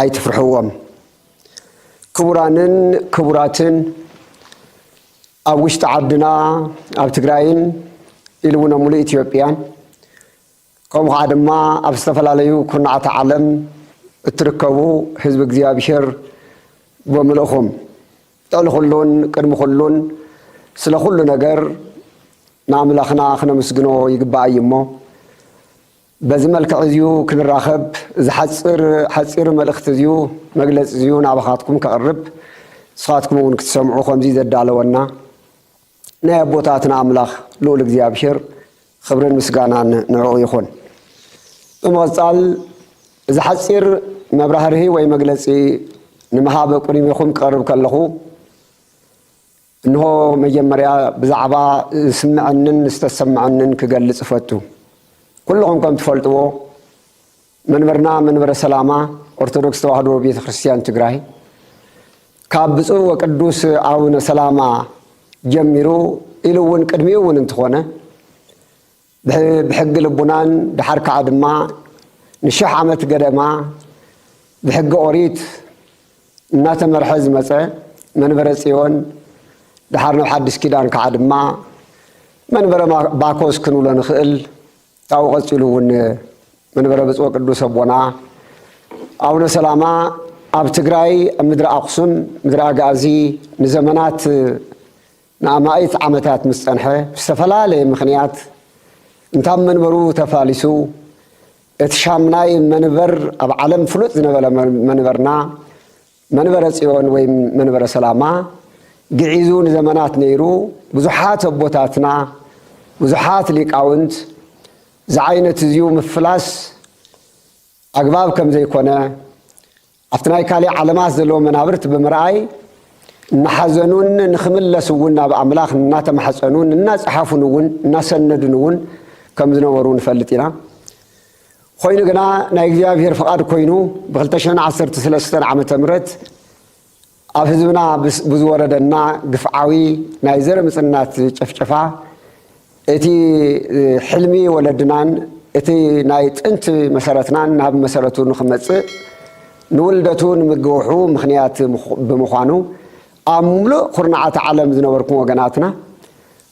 ኣይትፍርሕዎም ክቡራንን ክቡራትን ኣብ ውሽጢ ዓድና ኣብ ትግራይን ኢሉ እውን ኣብ ሙሉእ ኢትዮጵያን ከምኡ ከዓ ድማ ኣብ ዝተፈላለዩ ኩርናዓት ዓለም እትርከቡ ህዝቢ እግዚኣብሔር ብምልእኹም ልዕሊ ኩሉን ቅድሚ ኩሉን ስለ ኩሉ ነገር ንኣምላኽና ክነምስግኖ ይግባእ እዩ እሞ በዚ መልክዕ እዚዩ ክንራኸብ እዚ ሓጽር ሓጺር መልእኽቲ እዚዩ መግለጺ እዚዩ ናባኻትኩም ከቕርብ ንስኻትኩም እውን ክትሰምዑ ከምዚ ዘዳለወና ናይ ኣቦታትና ኣምላኽ ልኡል እግዚኣብሔር ኽብርን ምስጋናን ንዕኡ ይኹን ብምቕጻል እዚ ሓጺር መብራህርሂ ወይ መግለጺ ንምሃብ ቁሪሚኹም ክቐርብ ከለኹ እንሆ መጀመርያ ብዛዕባ ዝስመዐንን ዝተሰመዐንን ክገልፅ እፈቱ። ኩሉኹም ከም ትፈልጥዎ መንበርና መንበረ ሰላማ ኦርቶዶክስ ተዋህዶ ቤተ ክርስትያን ትግራይ ካብ ብፁዕ ወቅዱስ ኣቡነ ሰላማ ጀሚሩ ኢሉ እውን ቅድሚኡ እውን እንትኾነ ብሕጊ ልቡናን ደሓር ከኣ ድማ ንሽሕ ዓመት ገደማ ብሕጊ ኦሪት እናተመርሐ ዝመጸ መንበረ ጽዮን ደሓር ናብ ሓድሽ ኪዳን ከኣ ድማ መንበረ ባኮስ ክንብሎ ንኽእል ካብኡ ቀጺሉ እውን መንበረ ብጽወ ቅዱስ ኣቦና ኣቡነ ሰላማ ኣብ ትግራይ ኣብ ምድሪ ኣክሱም ምድሪ ኣጋእዚ ንዘመናት ንኣማኢት ዓመታት ምስ ጸንሐ ብዝተፈላለየ ምኽንያት እንታብ መንበሩ ተፋሊሱ እቲ ሻምናይ መንበር ኣብ ዓለም ፍሉጥ ዝነበረ መንበርና መንበረ ጽዮን ወይም መንበረ ሰላማ ግዒዙ ንዘመናት ነይሩ ብዙሓት ኣቦታትና ብዙሓት ሊቃውንት ዝዓይነትዝዩ ምፍላስ ኣግባብ ከምዘይኮነ ኣብቲ ናይ ካሊእ ዓለማት ዘለዉ መናብርት ብምርኣይ እናሓዘኑን ንክምለስ እውን ናብ ኣምላኽ እናተማሕፀኑን እናፀሓፉን እውን እናሰነዱን እውን ከም ዝነበሩ ንፈልጥ ኢና። ኾይኑ ግና ናይ እግዚኣብሔር ፍቓድ ኮይኑ ብ2ዓሰርተ ሰለስተ ዓ ም ኣብ ህዝብና ብዝወረደና ግፍዓዊ ናይ ዘር ምጽናት ጭፍጨፋ፣ እቲ ሕልሚ ወለድናን እቲ ናይ ጥንቲ መሰረትናን ናብ መሰረቱ ንኽመጽእ፣ ንውልደቱ ንምግውሑ ምኽንያት ብምዃኑ፣ ኣብ ምሉእ ኩርናዓት ዓለም ዝነበርኩም ወገናትና፣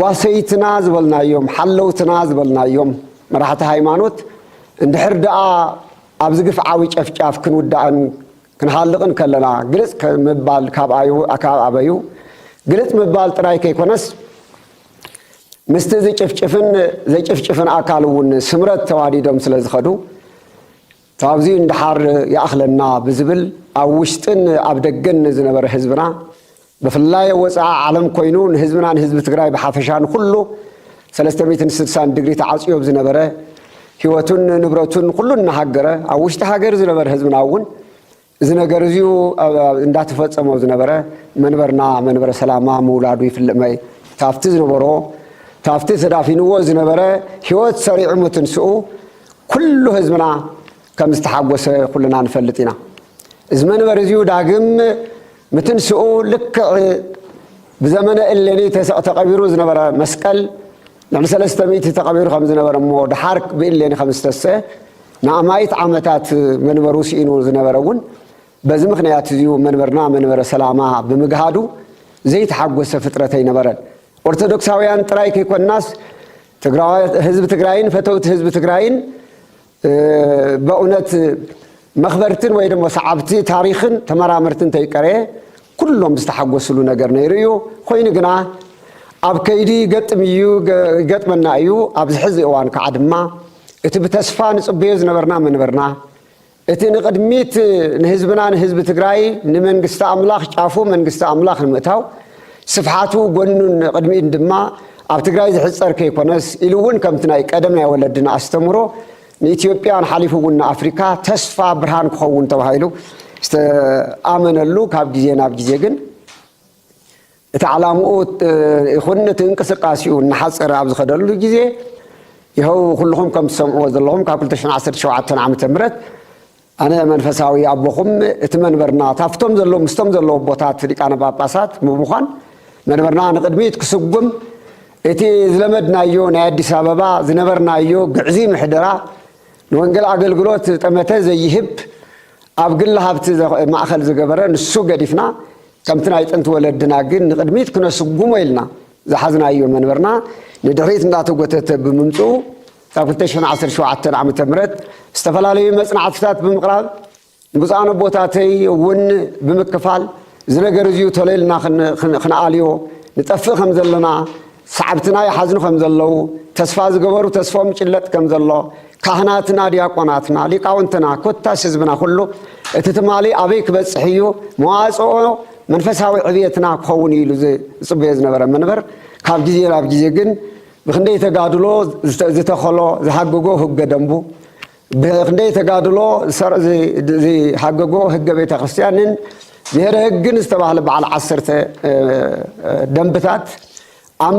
ጓሰይትና ዝበልናዮም፣ ሓለውትና ዝበልናዮም መራሕቲ ሃይማኖት እንድሕር ደኣ ኣብዚ ግፍዓዊ ጨፍጫፍ ክንውዳእን ክንሃልቕን ከለና ግልጽ ምባል ካብ ኣበዩ? ግልጽ ምባል ጥራይ ከይኮነስ ምስቲ ዝጭፍጭፍን ዘጭፍጭፍን ኣካል እውን ስምረት ተዋዲዶም ስለዝኸዱ ካብዚ ንደሓር ይኣኽለና ብዝብል ኣብ ውሽጥን ኣብ ደገን ንዝነበረ ህዝብና ብፍላይ ኣብ ወፃኢ ዓለም ኮይኑ ንህዝብና ንህዝቢ ትግራይ ብሓፈሻ ንኹሉ ሰለስተ ሚእትን ስድሳን ድግሪ ተዓፅዮ ኣብ ዝነበረ ህይወቱን ንብረቱን ኩሉ እናሃገረ ኣብ ውሽጢ ሃገር ዝነበረ ህዝብና እውን እዚ ነገር እዚዩ እንዳተፈጸሞ ዝነበረ መንበርና መንበረ ሰላማ ምውላዱ ይፍልጥ መይ ታፍቲ ዝነበሮ ታፍቲ ተዳፊንዎ ዝነበረ ህይወት ሰሪዑ ምትንስኡ ኩሉ ህዝብና ከም ዝተሓጎሰ ኩልና ንፈልጥ ኢና እዚ መንበር እዚዩ ዳግም ምትንስኡ ልክዕ ብዘመነ እሌኒ ተቐቢሩ ዝነበረ መስቀል ልዕሊ ሰለስተ ሚእቲ ተቐቢሩ ከም ዝነበረ እሞ ደሓር ብእሌኒ ከም ዝተሰ ንኣማኢት ዓመታት መንበሩ ስኢኑ ዝነበረ እውን በዚ ምኽንያት እዚዩ፣ መንበርና መንበረ ሰላማ ብምግሃዱ ዘይተሓጎሰ ፍጥረት ኣይነበረን። ኦርቶዶክሳውያን ጥራይ ከይኮንናስ ህዝቢ ትግራይን ፈተውቲ ህዝቢ ትግራይን በእውነት መኽበርትን ወይ ደሞ ሰዓብቲ ታሪኽን ተመራመርትን እንተይቀረየ ኩሎም ዝተሓጎስሉ ነገር ነይሩ እዩ። ኮይኑ ግና ኣብ ከይዲ ይገጥም እዩ ይገጥመና እዩ ኣብዚ ሕዚ እዋን ከዓ ድማ እቲ ብተስፋ ንጽበዮ ዝነበርና ምንብርና፣ እቲ ንቕድሚት ንህዝብና ንህዝቢ ትግራይ ንመንግስቲ ኣምላኽ ጫፉ መንግስቲ ኣምላኽ ንምእታው ስፍሓቱ ጎኑን ንቕድሚት ድማ ኣብ ትግራይ ዝሕጸር ከይኮነስ ኢሉ እውን ከምቲ ናይ ቀደም ናይ ወለድና ኣስተምሮ ንኢትዮጵያን ሓሊፉ እውን ንኣፍሪካ ተስፋ ብርሃን ክኸውን ተባሂሉ ዝተኣመነሉ ካብ ግዜ ናብ ግዜ ግን እቲ ዓላምኡ ይኹን እቲ እንቅስቃሴኡ እናሓፀረ ኣብ ዝኸደሉ ግዜ ይኸው ኩልኹም ከም ትሰምዕዎ ዘለኹም ካብ 217 ዓመተ ምህረት ኣነ መንፈሳዊ ኣቦኹም እቲ መንበርና ታፍቶም ዘለዉ ምስቶም ዘለዉ ኣቦታት ሊቃነ ጳጳሳት ብምዃን መንበርና ንቕድሚት ክስጉም እቲ ዝለመድናዮ ናይ ኣዲስ ኣበባ ዝነበርናዮ ግዕዚ ምሕደራ ንወንጌል ኣገልግሎት ጠመተ ዘይህብ ኣብ ግሊ ሃብቲ ማእኸል ዝገበረ ንሱ ገዲፍና ከምቲ ናይ ጥንቲ ወለድና ግን ንቕድሚት ክነስጉሞ ኢልና ዝሓዝናዮ መንበርና ንድሕሪት እንዳተጎተተ ብምምፅኡ ካብ ክልተ ሽሕን ዓሰርተ ሸውዓተን ዓመተ ምህረት ዝተፈላለዩ መፅናዕትታት ብምቕራብ ንብፁዓን ኣቦታተይ እውን ብምክፋል እዚ ነገር እዚዩ ተሎ ኢልና ክንኣልዮ ንጠፍእ ከም ዘለና ሰዓብትና ይሓዝኑ ከም ዘለዉ፣ ተስፋ ዝገበሩ ተስፎም ይጭለጥ ከም ዘሎ፣ ካህናትና፣ ዲያቆናትና፣ ሊቃውንትና፣ ኮታስ ህዝብና ኩሉ እቲ ትማሊ ኣበይ ክበጽሕ እዩ መዋጽኦ መንፈሳዊ ዕብየትና ክኸውን እዩ ኢሉ ዝጽበዮ ዝነበረ መንበር ካብ ግዜ ናብ ግዜ ግን ብክንደይ ተጋድሎ ዝተኸሎ ዝሃገጎ ህገ ደንቡ ብኽንደይ ተጋድሎ ሰር ዝሓገጎ ህገ ቤተ ክርስቲያንን ብሔረ ህግን ዝተባህለ በዓል ዓሰርተ ደንብታት ኣብ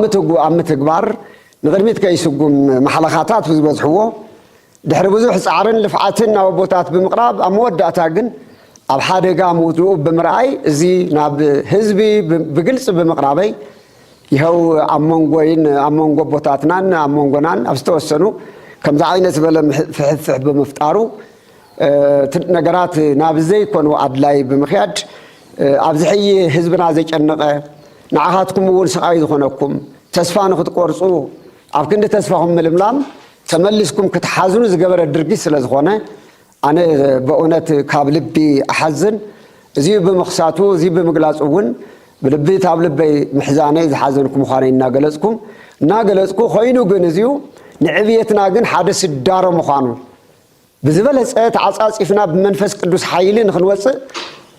ምትግባር ንቕድሚት ከይስጉም ማሕለኻታት ብዝበዝሕዎ ድሕሪ ብዙሕ ፃዕርን ልፍዓትን ናብ ኣቦታት ብምቕራብ ኣብ መወዳእታ ግን ኣብ ሓደጋ ምውድኡ ብምርኣይ እዚ ናብ ህዝቢ ብግልፂ ብምቕራበይ ይሀው ኣብ መንጎይን ኣብ መንጎ ኣቦታትናን ኣብ መንጎናን ኣብ ዝተወሰኑ ከምዚ ዓይነት ዝበለ ፍሕፍሕ ብምፍጣሩ ነገራት ናብ ዘይኮኑ ኣድላይ ብምክያድ ኣብዚ ሕይ ህዝብና ዘጨነቐ ንዓኻትኩም እውን ስቓይ ዝኾነኩም ተስፋ ንክትቆርፁ ኣብ ክንዲ ተስፋኹም ምልምላም ተመሊስኩም ክትሓዝኑ ዝገበረ ድርጊት ስለ ዝኾነ ኣነ በእውነት ካብ ልቢ እሓዝን እዙይ ብምኽሳቱ እዙይ ብምግላፁ እውን ብልቢ ታብ ልበይ ምሕዛነይ ዝሓዘንኩ ምዃነይ እናገለፅኩ እናገለፅኩ ኮይኑ ግን እዙዩ ንዕብየትና ግን ሓደ ስዳሮ ምዃኑ ብዝበለፀ ተዓፃፂፍና ብመንፈስ ቅዱስ ሓይሊ ንክንወፅእ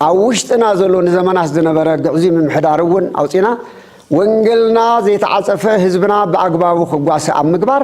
ኣብ ውሽጥና ዘሎ ንዘመናት ዝነበረ ግዕዙይ ምምሕዳር እውን ኣውፂና ወንገልና ዘይተዓፀፈ ህዝብና ብኣግባቡ ክጓሰ ኣብ ምግባር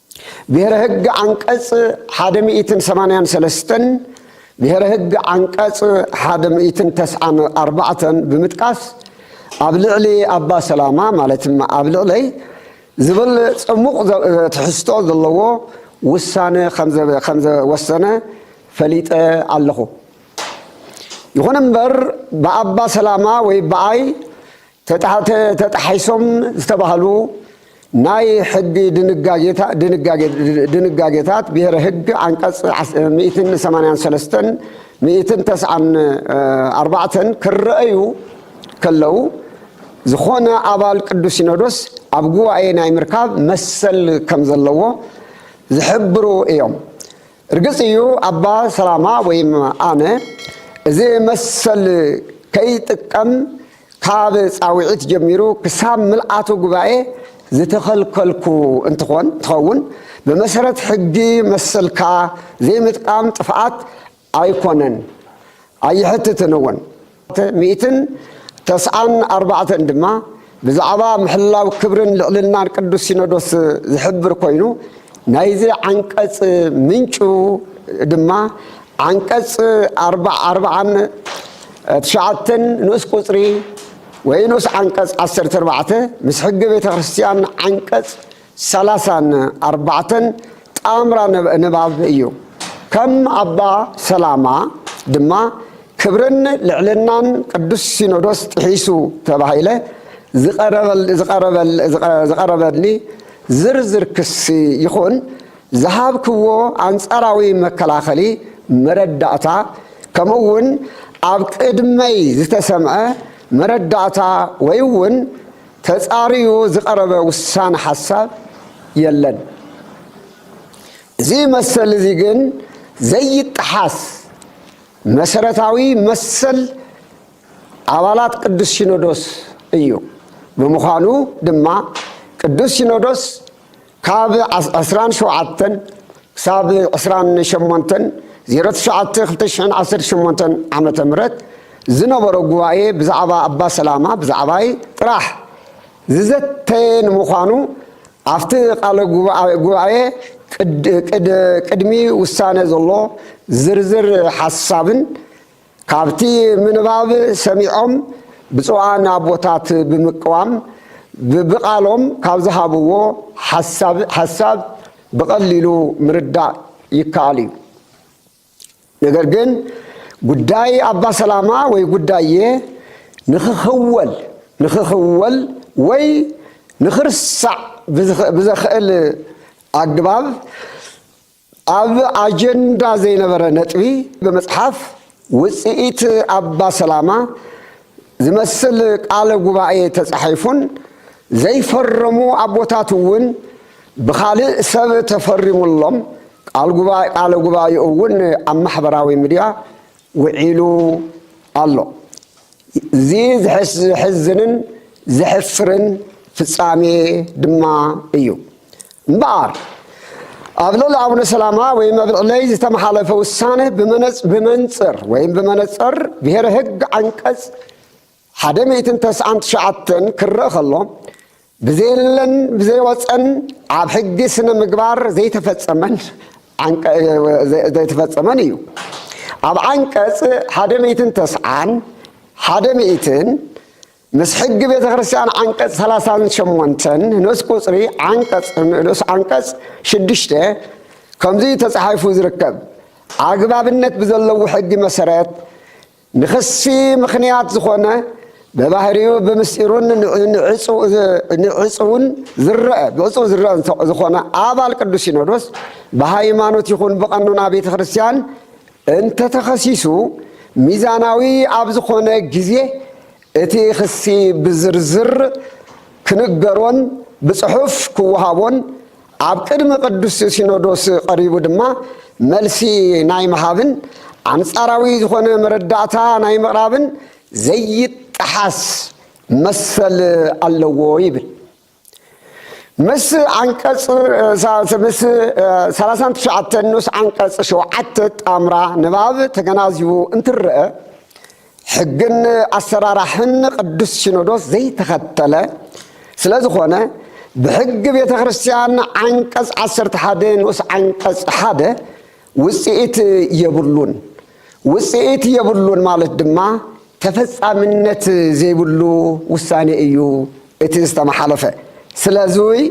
ብሔረ ህግ ዓንቀፅ ሓደ ሚእትን ሰማንያን ሰለስተን ብሔረ ህግ ዓንቀፅ ሓደ ሚእትን ተስዓን ኣርባዕተን ብምጥቃስ ኣብ ልዕሊ ኣባ ሰላማ ማለት ኣብ ልዕለይ ዝብል ፅሙቕ ትሕዝቶ ዘለዎ ውሳነ ከምዘወሰነ ፈሊጠ ኣለኹ። ይኹን እምበር ብኣባ ሰላማ ወይ ብኣይ ተጣሒሶም ዝተባህሉ ናይ ሕጊ ድንጋጌታት ብሄረ ህግ ዓንቀፅ ሚእትን ሰማንያን ሰለስተን ሚእትን ተስዓን ኣርባዕተን ክረኣዩ ከለው ዝኾነ ኣባል ቅዱስ ሲኖዶስ ኣብ ጉባኤ ናይ ምርካብ መሰል ከም ዘለዎ ዝሕብሩ እዮም። ርግጽ እዩ ኣባ ሰላማ ወይም ኣነ እዚ መሰል ከይጥቀም ካብ ጻውዒት ጀሚሩ ክሳብ ምልኣቱ ጉባኤ ዝተኸልከልኩ እንትኾን እንትኸውን ብመሰረት ሕጊ መሰልካ ዘይምጥቃም ጥፍኣት ኣይኮነን ኣይሕትትን እውን። ሚእትን ተስዓን ኣርባዕተን ድማ ብዛዕባ ምሕላው ክብርን ልዕልናን ቅዱስ ሲኖዶስ ዝሕብር ኮይኑ ናይዚ ዓንቀጽ ምንጩ ድማ ዓንቀጽ ኣርባዓን ትሽዓተን ንኡስ ቁጽሪ ወይ ንኡስ ዓንቀጽ ዓሰርተ ኣርባዕተ ምስ ሕጊ ቤተ ክርስቲያን ዓንቀጽ ሰላሳን ኣርባዕተን ጣምራ ንባብ እዩ። ከም ኣባ ሰላማ ድማ ክብርን ልዕልናን ቅዱስ ሲኖዶስ ጥሒሱ ተባሂለ ዝቐረበኒ ዝርዝር ክሲ ይኹን ዝሃብክዎ ኣንጻራዊ መከላኸሊ መረዳእታ ከምኡውን ኣብ ቅድመይ ዝተሰምዐ መረዳእታ ወይውን ተፃርዩ ዝቐረበ ውሳነ ሓሳብ የለን። እዚ መሰል እዚ ግን ዘይጠሓስ መሰረታዊ መሰል ኣባላት ቅዱስ ሲኖዶስ እዩ። ብምዃኑ ድማ ቅዱስ ሲኖዶስ ካብ ዕስራን ሸውዓተን ክሳብ ዕስራን ሸሞንተን ዜሮ ትሽዓተ ክልተ ሽሕን ዓሰርተ ሸሞንተን ዓመተ ምህረት ዝነበሮ ጉባኤ ብዛዕባ ኣባ ሰላማ ብዛዕባይ ጥራሕ ዝዘተየ ንምዃኑ ኣብቲ ቃለ ጉባኤ ቅድሚ ውሳነ ዘሎ ዝርዝር ሓሳብን ካብቲ ምንባብ ሰሚዖም ብፁዓን ኣቦታት ብምቅዋም ብብቓሎም ካብ ዝሃብዎ ሓሳብ ሓሳብ ብቐሊሉ ምርዳእ ይከኣል እዩ። ነገር ግን ጉዳይ ኣባ ሰላማ ወይ ጉዳየ ንክኽወል ንክኽወል ወይ ንክርሳዕ ብዘኽእል ኣግባብ ኣብ ኣጀንዳ ዘይነበረ ነጥቢ ብምፅሓፍ ውፅኢት ኣባ ሰላማ ዝመስል ቃለ ጉባኤ ተፃሒፉን ዘይፈረሙ ኣቦታት እውን ብኻሊእ ሰብ ተፈሪሙሎም ቃለ ጉባኤኡ እውን ኣብ ማሕበራዊ ሚድያ ውዒሉ ኣሎ። እዚ ዘሕዝንን ዘሕፍርን ፍጻሜ ድማ እዩ። እምበኣር ኣብ ልዕሊ ኣቡነ ሰላማ ወይም ኣብ ልዕለይ ዝተመሓለፈ ውሳነ ብመንጽር ወይም ብመነጽር ብሔረ ሕግ ዓንቀጽ ሓደ ሚእትን ተስዓን ትሽዓተን ክረእ ከሎ ብዘየለን ብዘይወጸን ኣብ ሕጊ ስነ ምግባር ዘይተፈጸመን ዘይተፈጸመን እዩ። ኣብ ዓንቀጽ ሓደ ሚእትን ተስዓን ሓደ ሚእትን ምስ ሕጊ ቤተ ክርስቲያን ዓንቀጽ ሰላሳን ሸሞንተን ንኡስ ቁጽሪ ዓንቀጽ ንኡስ ዓንቀጽ ሽዱሽተ ከምዚ ተጻሒፉ ዝርከብ ኣግባብነት ብዘለዎ ሕጊ መሰረት ንክሲ ምኽንያት ዝኾነ በባህሪኡ ብምስጢሩን ንዕፅውን ዝረአ ብዕፅው ዝረአ ዝኾነ ኣባል ቅዱስ ሲኖዶስ ብሃይማኖት ይኹን ብቐኖና ቤተ ክርስቲያን እንተተኸሲሱ ሚዛናዊ ኣብ ዝኾነ ግዜ እቲ ክሲ ብዝርዝር ክንገሮን ብፅሑፍ ክወሃቦን ኣብ ቅድሚ ቅዱስ ሲኖዶስ ቐሪቡ ድማ መልሲ ናይ ምሃብን ኣንጻራዊ ዝኾነ መረዳእታ ናይ ምቕራብን ዘይጠሓስ መሰል ኣለዎ ይብል። ምስ ዓንቀጽ ምስ ሰላሳን ትሽዓተን ንኡስ ዓንቀጽ ሸውዓተ ጣምራ ንባብ ተገናዚቡ እንትረአ ሕግን ኣሰራራሕን ቅዱስ ሲኖዶስ ዘይተኸተለ ስለ ዝኾነ ብሕጊ ቤተ ክርስቲያን ዓንቀጽ ዓሰርተ ሓደ ንኡስ ዓንቀጽ ሓደ ውጽኢት የብሉን። ውጽኢት የብሉን ማለት ድማ ተፈጻምነት ዘይብሉ ውሳኔ እዩ እቲ ዝተመሓለፈ ስለዙይ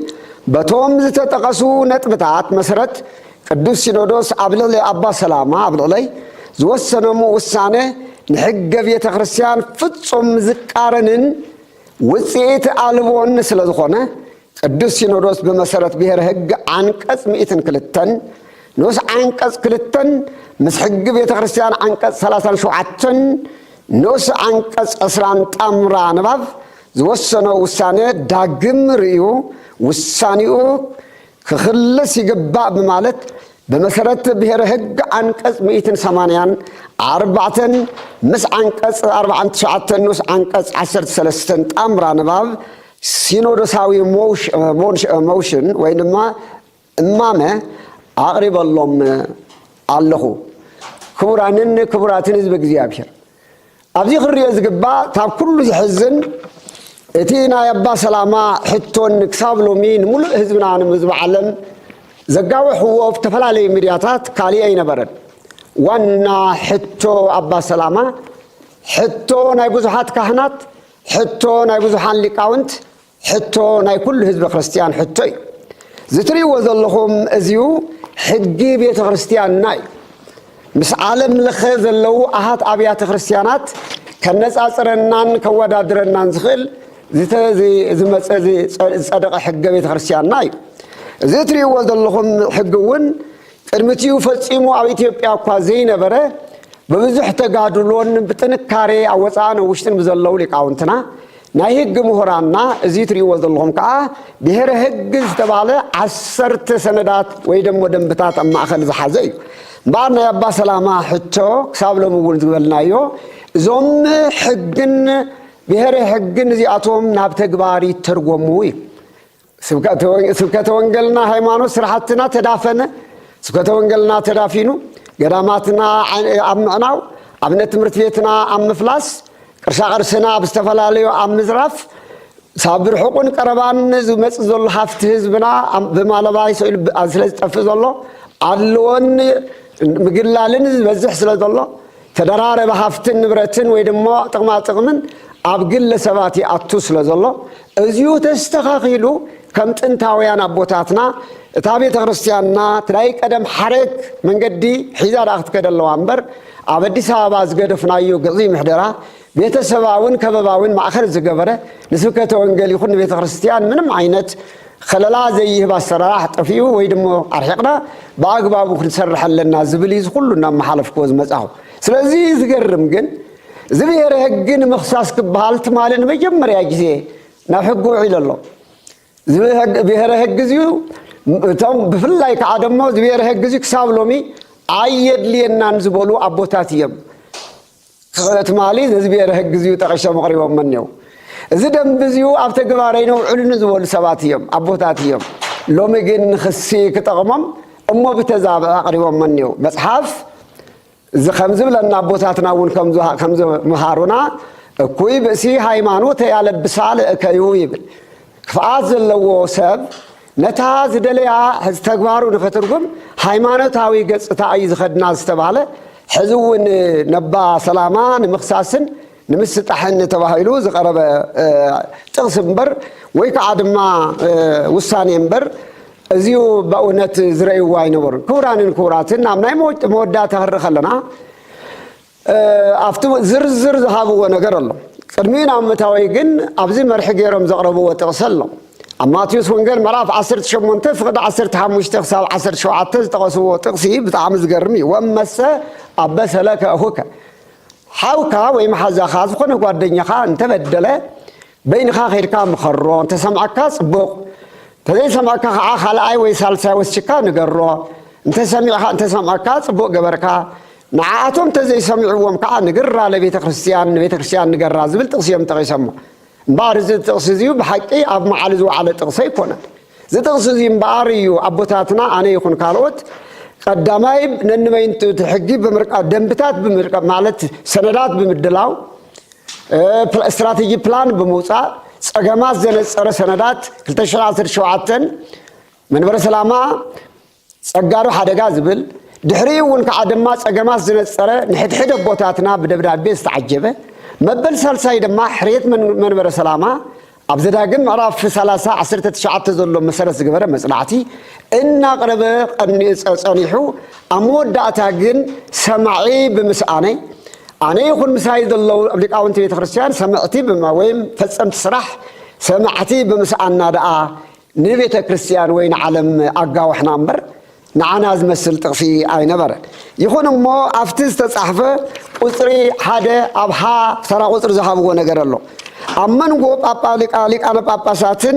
በቶም ዝተጠቐሱ ነጥብታት መሰረት ቅዱስ ሲኖዶስ ኣብ ልዕሊ ኣባ ሰላማ ኣብ ልዕለይ ዝወሰነሙ ውሳነ ንሕገ ቤተ ክርስቲያን ፍጹም ዝቃረንን ውፅኢት ኣልቦን ስለዝኾነ ቅዱስ ሲኖዶስ ብመሰረት ብሔረ ሕግ ዓንቀጽ ምእትን ክልተን ንኡስ ዓንቀጽ ክልተን ምስ ሕጊ ቤተ ክርስቲያን ዓንቀጽ ሰላሳን ሸውዓተን ንኡስ ዓንቀጽ ዕስራን ጣምራ ንባብ ዝወሰኖ ውሳነ ዳግም ርእዩ ውሳኔኡ ክኽልስ ይግባእ ብማለት ብመሰረት ብሄረ ህግ ዓንቀፅ ሚእትን ሰማንያን ኣርባዕተን ምስ ዓንቀፅ ኣርባዓን ትሽዓተን ንኡስ ዓንቀፅ ዓሰርተ ሰለስተን ጣምራ ንባብ ሲኖዶሳዊ ሞሽን ወይ ድማ እማመ ኣቕሪበሎም ኣለኹ። ክቡራንን ክቡራትን ህዝቢ እግዚኣብሔር ኣብዚ ክርዮ ዝግባእ ካብ ኩሉ ዝሕዝን እቲ ናይ ኣባ ሰላማ ሕቶን ክሳብ ሎሚ ንምሉእ ህዝብና ንህዝቢ ዓለም ዘጋወሕዎ ዝተፈላለዩ ሚድያታት ካሊእ ኣይነበረን። ዋና ሕቶ ኣባ ሰላማ ሕቶ ናይ ብዙሓት ካህናት ሕቶ ናይ ብዙሓን ሊቃውንት ሕቶ ናይ ኩሉ ህዝበ ክርስትያን ሕቶ እዩ። ዝትሪእዎ ዘለኹም እዚዩ ሕጊ ቤተ ክርስትያንና እዩ። ምስ ዓለም ለኸ ዘለዉ ኣሃት ኣብያተ ክርስትያናት ከነጻጽረናን ከወዳድረናን ዝኽእል ዝመፀ ዝፀደቐ ሕገ ቤተ ክርስትያንና እዩ እዚ እትሪእዎ ዘለኹም ሕጊ እውን ቅድሚትኡ ፈፂሙ ኣብ ኢትዮጵያ እኳ ዘይነበረ ብብዙሕ ተጋድሎን ብጥንካሬ ኣብ ወፃእን ውሽጥን ብዘለዉ ሊቃውንትና ናይ ህግ ምሁራንና እዚ ትሪእዎ ዘለኹም ከኣ ብሄረ ህግ ዝተባህለ ዓሰርተ ሰነዳት ወይ ደሞ ደንብታት ኣብ ማእኸል ዝሓዘ እዩ። እምበኣር ናይ ኣባ ሰላማ ሕቶ ክሳብ ሎሚ እውን ዝበልናዮ እዞም ሕግን ብሄረ ህግን እዚኣቶም ናብ ተግባር ይተርጎሙ እዩ። ስብከተ ወንገልና ሃይማኖት ስራሕትና ተዳፈነ ስብከተ ወንገልና ተዳፊኑ ገዳማትና ኣብ ምዕናው ኣብነት ትምህርቲ ቤትና ኣብ ምፍላስ ቅርሳቅርስና ኣብ ዝተፈላለዩ ኣብ ምዝራፍ ሳብ ብርሑቁን ቀረባን ዝመፅእ ዘሎ ሃፍቲ ህዝብና ብማለባ ይስኢሉ ስለ ዝጠፍእ ዘሎ ኣድልዎን ምግላልን ዝበዝሕ ስለ ዘሎ ተደራረቢ ሃፍትን ንብረትን ወይ ድማ ጥቕማ ጥቕምን ኣብ ግለ ሰባት ይኣቱ ስለ ዘሎ እዚኡ ተስተኻኺሉ ከም ጥንታውያን ኣቦታትና እታ ቤተ ክርስቲያንና ትናይ ቀደም ሓረግ መንገዲ ሒዛ ዳኣ ክትከደ ኣለዋ እምበር ኣብ ኣዲስ ኣበባ ዝገደፍናዮ ግዕዙይ ምሕደራ ቤተሰባውን ከበባውን ማእኸል ዝገበረ ንስብከተ ወንጌል ይኹን ንቤተ ክርስቲያን ምንም ዓይነት ኸለላ ዘይህብ ኣሰራራሕ ጠፊኡ ወይ ድሞ ኣርሒቕና ብኣግባቡ ክንሰርሕ ኣለና ዝብል እዩ ዝኹሉ እናመሓለፍክዎ ዝመፃኹ። ስለዚ ዝገርም ግን እዚ ብሄረ ህግ ንምኽሳስ ክበሃል ትማሊ ንመጀመርያ ግዜ ናብ ሕጊ ውዒሉ ኣሎ። እዚ ብሄረ ህግ እዚዩ እቶም ብፍላይ ከዓ ደሞ እዚ ብሄረ ህግ እዚዩ ክሳብ ሎሚ ኣየድልየናን ዝበሉ ኣቦታት እየም። ስእለ ትማሊ ዘዝብሔረ ህግ እዚዩ ጠቂሶም ኣቕሪቦሞ እኔዉ። እዚ ደንቢ እዚዩ ኣብ ተግባር ኣይነውዕሉ ንዝበሉ ሰባት እዮም፣ ኣቦታት እዮም። ሎሚ ግን ንክሲ ክጠቕሞም እሞ ብተዛብእ ኣቕሪቦሞ እኔዉ። መጽሓፍ እዚ ከም ዝብለና ኣቦታትና እውን ከም ዝመሃሩና እኩይ ብእሲ ሃይማኖተ ያለብሳ ለእከዩ ይብል። ክፍኣት ዘለዎ ሰብ ነታ ዝደለያ ሕዚ ተግባሩ ንኸትርጉም ሃይማኖታዊ ገጽታ እዩ ዝኸድና ዝተባህለ ሕዚ እውን ነባ ሰላማ ንምኽሳስን ንምስጣሕን ተባሂሉ ዝቐረበ ጥቕሲ እምበር ወይ ከዓ ድማ ውሳኔ እምበር እዚዩ በእውነት ዝረእይዎ ኣይነበሩን። ክቡራንን ክቡራትን ናብ ናይ መወዳእታ ክንርኢ ከለና ኣብቲ ዝርዝር ዝሃብዎ ነገር ኣሎ። ቅድሚ ናብ ምእታወይ ግን ኣብዚ መርሒ ገይሮም ዘቕረብዎ ጥቕሲ ኣሎ። ኣብ ማቴዎስ ወንጌል ምዕራፍ ዓሰርተ ሸሞንተ ፍቕዲ ዓሰርተ ሓሙሽተ ክሳብ ዓሰርተ ሸውዓተ ዝጠቐስዎ ጥቕሲ ብጣዕሚ ዝገርም እዩ፣ ወእመሰ ኣበሰ ለከ እኹከ፣ ሓውካ ወይ መሓዛኻ፣ ዝኾነ ጓደኛኻ እንተበደለ፣ በይንኻ ከይድካ ምኸሮ፣ እንተሰምዓካ ጽቡቕ፣ እንተዘይሰምዓካ ከኣ ካልኣይ ወይ ሳልሳይ ወስችካ ንገሮ፣ እንተሰሚዕኻ እንተሰምዓካ ጽቡቕ ገበርካ፣ ንዓኣቶም እንተዘይሰሚዕዎም ከኣ ንግራ ለቤተ ክርስትያን ንቤተ ክርስትያን ንገራ ዝብል ጥቕሲ እዮም ጠቒሶሞ። እምበኣር እዚ ጥቕሲ እዚዩ ብሓቂ ኣብ መዓል ዝወዓለ ጥቕሲ ኣይኮነን። እዚ ጥቕሲ እዚ እምበኣር እዩ ኣቦታትና ኣነ ይኹን ካልኦት ቀዳማይ ነንበይንቱ እቲ ሕጊ ብምርቃብ ደንብታት ብምርቃብ ማለት ሰነዳት ብምድላው ስትራቴጂ ፕላን ብምውፃእ ፀገማት ዘነፀረ ሰነዳት 217 መንበረ ሰላማ ጸጋዶ ሓደጋ ዝብል፣ ድሕሪኡ እውን ከዓ ድማ ጸገማት ዝነጸረ ንሕድሕድ ኣቦታትና ብደብዳቤ ዝተዓጀበ መበል ሳልሳይ ድማ ሕርየት መንበረ ሰላማ ኣብ ዘዳግም ምዕራፍ ሰላሳ ዓሰርተ ትሽዓተ ዘሎ መሰረት ዝገበረ መጽናዕቲ እናቕረበ ጸኒሑ ኣብ መወዳእታ ግን ሰማዒ ብምስኣነይ ኣነ ይኹን ምሳይ ዘለዉ ሊቃውንቲ ቤተ ክርስቲያን ሰምዕቲ ወይም ፈጸምቲ ስራሕ ሰማዕቲ ብምስኣና ደኣ ንቤተ ክርስቲያን ወይ ንዓለም ኣጋውሕና እምበር ንዓና ዝመስል ጥቕሲ ኣይነበረን። ይኹን እሞ ኣብቲ ዝተጻሕፈ ቁጽሪ ሓደ ኣብ ሃ ተራ ቁጽሪ ዝሃብዎ ነገር ኣሎ። ኣብ መንጎ ሊቃነ ጳጳሳትን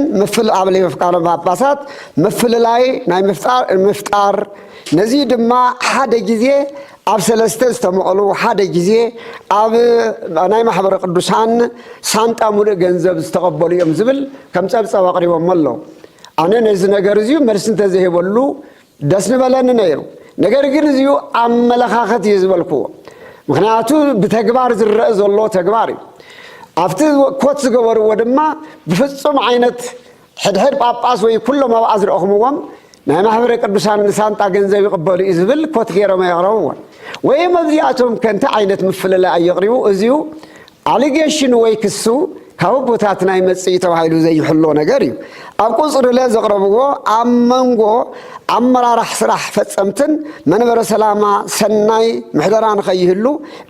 ኣብ ሊቃነ ጳጳሳት ምፍልላይ ናይ ምፍጣር ነዚ ድማ ሓደ ግዜ ኣብ ሰለስተ ዝተመቐሉ ሓደ ግዜ ኣብ ናይ ማሕበረ ቅዱሳን ሳንጣ ሙሉእ ገንዘብ ዝተቐበሉ እዮም ዝብል ከም ጸብጻብ ኣቕሪቦሞ ኣሎ። ኣነ ነዚ ነገር እዚዩ መልሲ እንተዘይበሉ ደስ ንበለኒ ነይሩ። ነገር ግን እዚዩ ኣመለኻኸት እዩ ዝበልክዎ። ምክንያቱ ብተግባር ዝረእ ዘሎ ተግባር እዩ። ኣብቲ ኮት ዝገበርዎ ድማ ብፍጹም ዓይነት ሕድሕድ ጳጳስ ወይ ኩሎም ኣብኣ ዝረእኹምዎም ናይ ማኅበረ ቅዱሳን ንሳንጣ ገንዘብ ይቕበሉ እዩ ዝብል ኮት ገይሮም ኣየቕረብዎን። ወይም ኣብዚኣቶም ከ እንታይ ዓይነት ምፍልላይ ኣየቕሪቡ? እዚዩ ኣሊጌሽኑ ወይ ክሱ ካብ ኣቦታትና ይመጽእ እዩ ተባሂሉ ዘይሕሎ ነገር እዩ። ኣብ ቁጽሪለ ዘቕረብዎ ኣብ መንጎ ኣመራራሕ ስራሕ ፈጸምትን መንበረ ሰላማ ሰናይ ምሕደራ ንኸይህሉ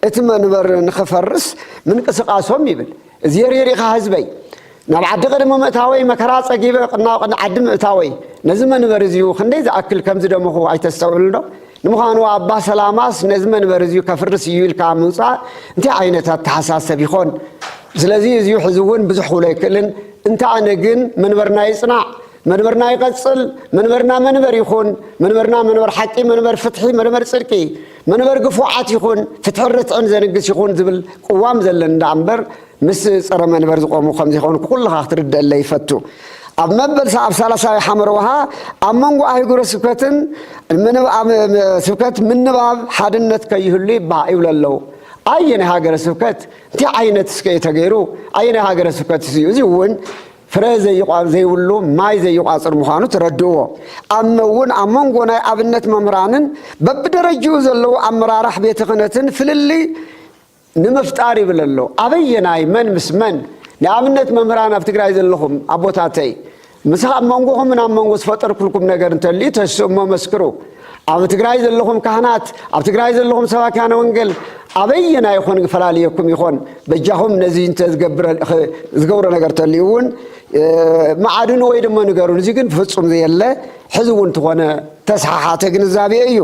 እቲ መንበር ንኽፈርስ ምንቅስቃሶም ይብል። እዝየርየር ኢኻ ህዝበይ ናብ ዓዲ ቅድሚ ምእታወይ መከራ ጸጊበ ቅናቕ ዓዲ ምእታወይ ነዚ መንበሪ እዚዩ ክንደይ ዝኣክል ከም ዝደመኹ ኣይተስተውዕልንዶ ንምዃኑ ኣባ ሰላማስ ነዚ መንበሪ እዚዩ ከፍርስ እዩ ኢልካ ምውጻእ እንታይ ዓይነት ኣተሓሳሰብ ይኾን ስለዚ እዚዩ ሕዚ እውን ብዙሕ ክብሎ ኣይክእልን እንተ ኣነ ግን መንበርና ይጽናዕ መንበርና ይቐጽል መንበርና መንበር ይኹን መንበርና መንበር ሓቂ መንበር ፍትሒ መንበር ጽድቂ መንበር ግፉዓት ይኹን ፍትሕን ርትዕን ዘንግስ ይኹን ዝብል ቅዋም ዘለኒ ደኣ እምበር ምስ ጸረ መንበር ዝቖሙ ከም ዘይኮንኩ ኩልኻ ክትርደኣለይ ይፈቱ። ኣብ መበል ኣብ ሳላሳይ ሓመረ ውሃ ኣብ መንጎ ኣህጉረ ስብከትን ስብከት ምንባብ ሓድነት ከይህሉ ይብሃ ይብሉ ኣለዉ። ኣየናይ ሃገረ ስብከት እንታይ ዓይነት እስከ እዩ ተገይሩ? ኣየናይ ሃገረ ስብከት እዩ እዚ እውን ፍረ ዘይብሉ ማይ ዘይቋጽር ምዃኑ ተረድእዎ። ኣመውን ኣብ መንጎ ናይ ኣብነት መምህራንን በብደረጅኡ ዘለዉ ኣመራራሕ ቤተ ክህነትን ፍልልይ ንምፍጣር ይብል ኣሎ። ኣበየናይ መን ምስ መን? ንኣብነት መምህራን ኣብ ትግራይ ዘለኹም ኣቦታተይ፣ ምስ ኣብ መንጎኹምን ኣብ መንጎ ዝፈጠርኩልኩም ነገር እንተልዩ ተስእሞ መስክሩ። ኣብ ትግራይ ዘለኹም ካህናት ኣብ ትግራይ ዘለኹም ሰባኪያነ ወንጌል ኣበየና ይኾን ክፈላለየኩም ይኾን በጃኹም ነዚ እንተ ዝገብሮ ነገር ተልዩ እውን መዓድኑ ወይ ድማ ንገሩን እዚ ግን ፍፁም ዘየለ ሕዚ እውን ትኾነ ተስሓሓተ ግንዛቤ እዩ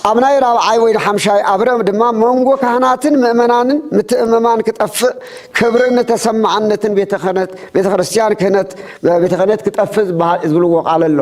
ኣብ ናይ ራብዓይ ወይ ሓምሻይ ኣብረ ድማ መንጎ ካህናትን ምእመናንን ምትእምማን ክጠፍእ ክብርን ተሰማዕነትን ቤተ ክርስቲያን ክህነት ቤተ ክህነት ክጠፍእ ዝብልዎ ቃል ኣሎ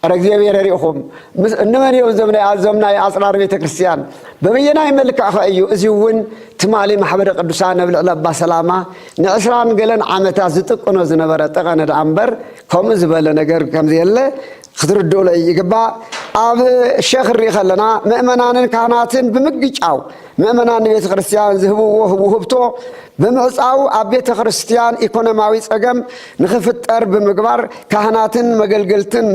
ጸረ እግዚኣብሔር ርኢኹም ምስ እንመን እዮም እዞም ናይ ኣዞም ናይ ኣጽራር ቤተ ክርስቲያን በበየናይ መልክዕኸ እዩ እዚ እውን ትማሊ ማሕበረ ቅዱሳን ኣብ ልዕሊ ኣባ ሰላማ ንዕስራን ገለን ዓመታት ዝጥቅኖ ዝነበረ ጠቐነ ደኣ እምበር ከምኡ ዝበለ ነገር ከምዘየለ ክትርድኡለይ ይግባእ ኣብ ሸኽ ንርኢ ከለና ምእመናንን ካህናትን ብምግጫው ምእመናን ንቤተ ክርስቲያን ዝህብዎ ውህብቶ ብምዕጻው ኣብ ቤተ ክርስቲያን ኢኮኖሚያዊ ጸገም ንኽፍጠር ብምግባር ካህናትን መገልገልትን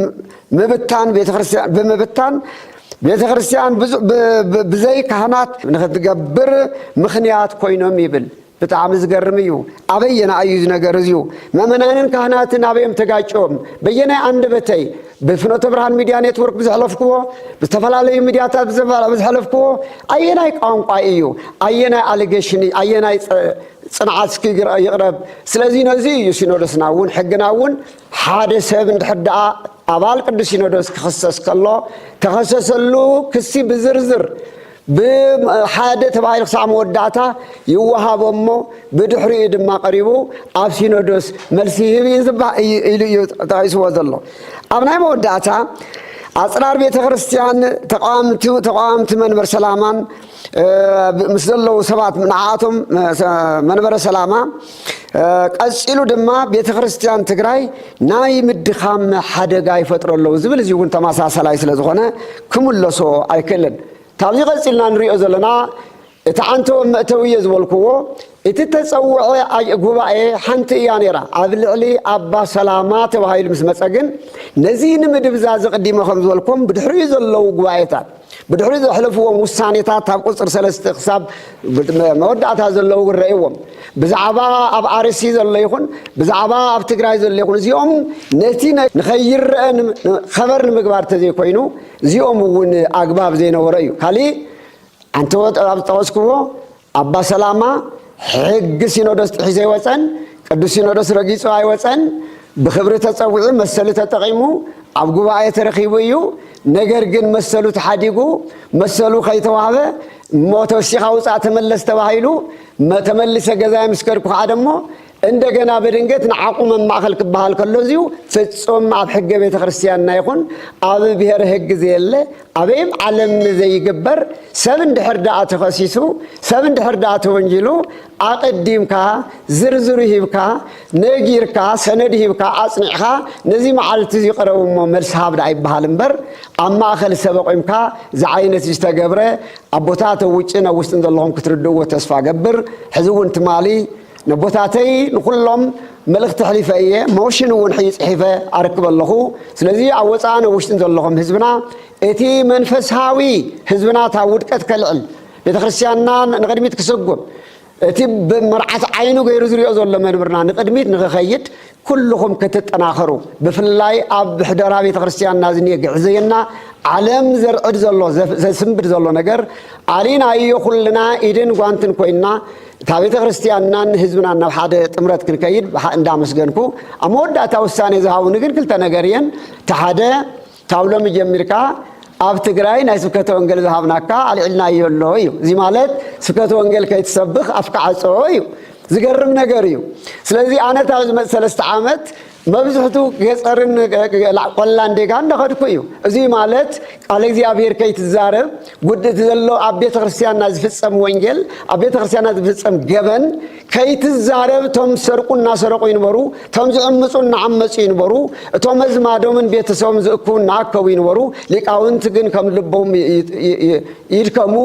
ምብታን ቤተ ክርስቲያን ብምብታን ቤተ ክርስቲያን ብዘይ ካህናት ንኽትገብር ምኽንያት ኮይኖም ይብል። ብጣዕሚ ዝገርም እዩ ኣበየና እዩ ዝነገር እዝዩ መመናንን ካህናትን ኣበዮም ተጋጭዮም በየናይ ኣንደበተይ ብፍኖተ ብርሃን ሚድያ ኔትወርክ ብዝሕለፍክዎ ብዝተፈላለዩ ሚድያታት ብዝሕለፍክዎ ኣየናይ ቋንቋ እዩ ኣየናይ ኣሊጌሽን ኣየናይ ፅንዓት እስኪ ይቕረብ ስለዚ ነዚ እዩ ሲኖዶስና እውን ሕግና እውን ሓደ ሰብ እንድሕር ደኣ ኣባል ቅዱስ ሲኖዶስ ክኽሰስ ከሎ ተኸሰሰሉ ክሲ ብዝርዝር ብሓደ ተባሂሉ ክሳዕ መወዳእታ ይወሃቦ እሞ ብድሕሪኡ ድማ ቀሪቡ ኣብ ሲኖዶስ መልሲ ይህብ እዩ ዝባ- እዩ- ኢሉ እዩ ጠቂስዎ ዘሎ ኣብ ናይ መወዳእታ ኣፅራር ቤተ ክርስቲያን ተቃዋምቲ ተቃዋምቲ መንበር ሰላማን እ፣ ምስ ዘለዉ ሰባት ንዓኣቶም እ፣ ሰ- መንበረ ሰላማ ቀፂሉ ድማ ቤተ ክርስቲያን ትግራይ ናይ ምድኻም ሓደጋ ይፈጥሮ ኣለዉ ዝብል እዚ እውን ተመሳሰላይ ስለ ዝኾነ ክምለሶ ኣይክእልን ካብዚ ቀፂልና ንሪኦ ዘለና እቲ ዓንተወ መእተዊ እየ ዝበልክዎ እቲ ተፀውዐ ጉባኤ ሓንቲ እያ ነይራ ኣብ ልዕሊ ኣባ ሰላማ ተባሂሉ ምስ መፀ ግን ነዚ ንምድብዛ ዝቕዲመ ከም ዝበልኩም ብድሕሪኡ ዘለዉ ጉባኤታት ብድሕሪ ዘሕለፍዎም ውሳኔታት ኣብ ቁጽሪ ሰለስተ ክሳብ መወዳእታ ዘለዉ ክረእዎም ብዛዕባ ኣብ ኣርሲ ዘሎ ይኹን ብዛዕባ ኣብ ትግራይ ዘሎ ይኹን እዚኦም ነቲ ንኸይረአ ኸበር ንምግባር ተዘይኮይኑ እዚኦም እውን ኣግባብ ዘይነበሮ እዩ ካሊእ ኣንተ ኣብ ዝጠቐስክዎ ኣባ ሰላማ ሕጊ ሲኖዶስ ጥሒሱ ኣይወጸን፣ ቅዱስ ሲኖዶስ ረጊጹ ኣይወጸን፣ ብኽብሪ ተጸዊዑ መሰሉ ተጠቒሙ ኣብ ጉባኤ ተረኺቡ እዩ፣ ነገር ግን መሰሉ ተሓዲጉ፣ መሰሉ ከይተዋህበ እሞ ተወሲኻ ውጻእ ተመለስ ተባሂሉ፣ ተመሊሰ ገዛይ ምስ ከድኩ ከኣ ደሞ እንደገና በድንገት ንዓቑ መማእኸል ክበሃል ከሎ እዚዩ ፍፁም ኣብ ሕገ ቤተ ክርስቲያንና ይኹን ኣብ ብሔር ህግ ዘየለ ኣበይም ዓለም ዘይግበር ሰብ እንድሕር ደኣ ተኸሲሱ ሰብ እንድሕር ደኣ ተወንጂሉ ኣቐዲምካ ዝርዝሩ ሂብካ ነጊርካ ሰነድ ሂብካ ኣፅኒዕኻ ነዚ መዓልቲ እዚ ቅረቡ እሞ መልሲ ሃብ ደኣ ይበሃል እምበር ኣብ ማእኸል ሰብ ኣቑምካ ዝዓይነት ዝተገብረ ኣቦታት ኣብ ውጭን ኣብ ውስጥን ዘለኹም ክትርድእዎ ተስፋ ገብር ሕዚ እውን ትማሊ ነቦታተይ ንኹሎም መልእኽቲ ኣሕሊፈ እየ ሞሽን እውን ሕጂ ጽሒፈ ኣርክብ ኣለኹ ስለዚ ኣብ ወጻእን ኣብ ውሽጥን ዘለኹም ህዝብና እቲ መንፈስሃዊ ህዝብና እታ ውድቀት ከልዕል ቤተክርስትያንና ንቅድሚት ክሰጉም እቲ መርዓት ዓይኑ ገይሩ ዝሪኦ ዘሎ መንብርና ንቅድሚት ንክኸይድ ኩሉኹም ክትጠናኸሩ ብፍላይ ኣብ ብሕደራ ቤተክርስትያንና ዝኔ ግዕዘየና ዓለም ዘርዕድ ዘሎ ዘስንብድ ዘሎ ነገር ኣሊናዮ ኩልና ኢድን ጓንትን ኮይንና እታ ቤተክርስትያንናን ህዝብናን ናብ ሓደ ጥምረት ክንከይድ እንዳመስገንኩ ኣብ መወዳእታ ውሳኔ ዝሃቡኒ ግን ክልተ ነገር እየን እቲ ሓደ ካብ ሎሚ ጀሚርካ ኣብ ትግራይ ናይ ስብከተ ወንጌል ዝሃብናካ ኣልዒልናዮ ኣሎ እዩ። እዚ ማለት ስብከተ ወንጌል ከይትሰብኽ ኣፍካ ዓጾ እዩ። ዝገርም ነገር እዩ። ስለዚ ኣነ እታ ዝመፅ ሰለስተ ዓመት መብዝሕቱ ገፀርን ቆላን ዴጋ እንዳኸድኩ እዩ። እዚ ማለት ቃል እግዚኣብሔር ከይትዛረብ ጉድእቲ ዘሎ ኣብ ቤተ ክርስቲያንና ዝፍፀም ወንጌል ኣብ ቤተ ክርስቲያንና ዝፍፀም ገበን ከይትዛረብ እቶም ዝሰርቁ እናሰረቑ ይንበሩ፣ እቶም ዝዕምፁ እናዓመፁ ይንበሩ፣ እቶም ኣዝማዶምን ቤተሰቦም ዝእክቡ እናኣከቡ ይንበሩ፣ ሊቃውንቲ ግን ከም ልቦም ይድከሙ፣